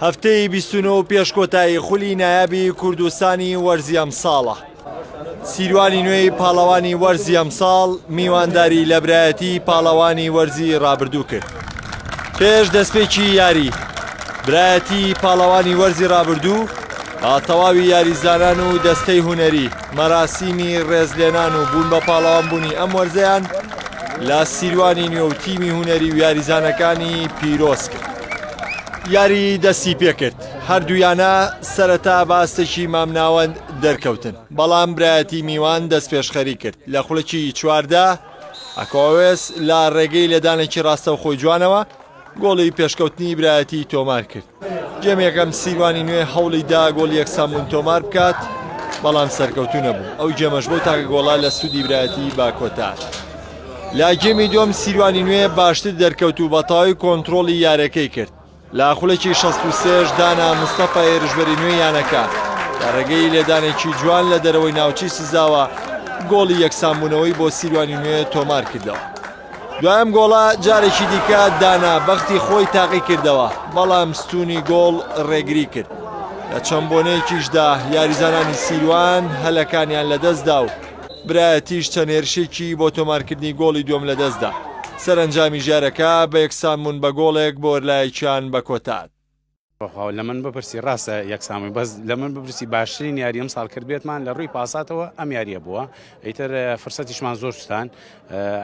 هەفتەی بیست و نۆ پێش کۆتایی خولی نایابی کوردستانی وەرزی ئەمساڵە سیروانی نوێی پاڵەوانی وەرزی ئەمساڵ میوانداری لە برایەتی پاڵەوانی وەرزی ڕابردوو کرد پێش دەستپێکی یاری برایەتی پاڵەوانی وەرزی ڕابردوو با تەواوی یاریزانان و دەستەی هوەری مەراسیمی ڕێزلێنان و بوون بە پاڵەوانبوونی ئەم وەرزەیان لە سیروانی نوێ و تیمی هوەری و یاریزانەکانی پیرۆز کرد. یاری دەستی پێکرد هەردوویانە سەرەتا باستێکی مامناوەند دەرکەوتن بەڵام برایەتی میوان دەست پێشخەری کرد لە خولەکی چواردا ئەکۆوێس لە ڕێگەی لێدانێکی ڕاستەوخۆی جوانەوە گۆڵی پێشکەوتنی برایەتی تۆمار کرد گێمێکەم سیروانی نوێ هەوڵی دا گۆڵی یەکسان بوون تۆمار بکات، بەڵام سەرکەوتوو نەبوو، ئەو گێمەش بەو تاکە گۆڵە لە سوودی برایەتی با کۆتاهات. لە گێمی دووەم سیروانی نوێ باشتر دەرکەوت و بەتەواوی کۆنترۆڵی یارەکەی کرد، لە خولەکی شەست و سێ ەش دانا مستەفا هێرشبەری نوێی یانەکە لە ڕێگەی لێدانێکی جوان لە دەرەوەی ناوچەی سزاوە گۆڵی یەکسانبوونەوەی بۆ سیروانی نوێ تۆمار کردەوە. دوایەم گۆڵە جارێکی دیکە دانا بەختی خۆی تاقی کردەوە بەڵام ستونی گۆڵ ڕێگری کرد لە چەند بۆنەیەکیشدا یاریزانانی سیروان هەلەکانیان لەدەستدا و برایەتیش چەند هێرشێکی بۆ تۆمارکردنی گۆڵی دووەم لەدەستدا سەرەنجامی ژارەکە بە یەکسانبوون بە گۆڵێک بۆرلایەکیان بە کۆتاد. بەخوا لە من بپرسی ڕاستە یەک سامی بەس لە من بپرسی باشترین یاری ئەم ساڵ کرد بێتمان لە ڕووی پاساتەوە ئەم یاریە بووە ئیتر فرسەتیشمان زۆر شتان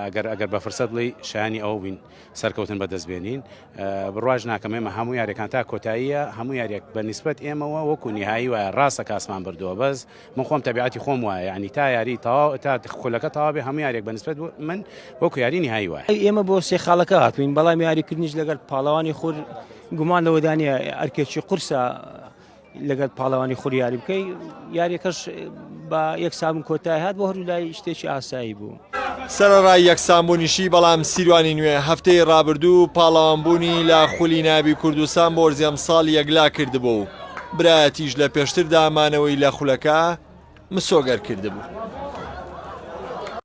ئەگەر ئەگەر بە فرسەت بڵی شانی ئەو بین سەرکەوتن بەدەست بێنین بڕواژ ناکەم ئێمە هەموو یاریەکان تا کۆتاییە هەموو یاریەک بە نسبت ئێمەوە وەکو نهایی وایە ڕاستە کاسمان بردووە بەس من خۆم تەبیعەتی خۆم وایە یعنی تا یاری تەواو تا خولەکە تەواو بێ هەموو یاریێک بەنسبەت بوو من وەکو یاری نهایی وایە ئێمە بۆ سێ خاڵەکە هاتوین بەڵام یاریکردنیش لەگەر پاڵەوانی خور گومان لەوەدانە ئەرکێکی قورسە لەگەر پاڵەوانی خوری یاری بکەی یاریەکەش بە یەک سامن کۆتای هاات بۆ هەرو لای شتێکی ئاسایی بوو. سەرەڕای یەکسانبوونیشی، بەڵام سیروانی نوێ هەفتەی رابردوو پاڵەوانبوونی لە خولی نایابی کوردستان بۆ زێمساڵ یەکلا کردبوو و برایەتیش لە پێشتردا مانەوەی لە خولەکە مسۆگەر کردبوو.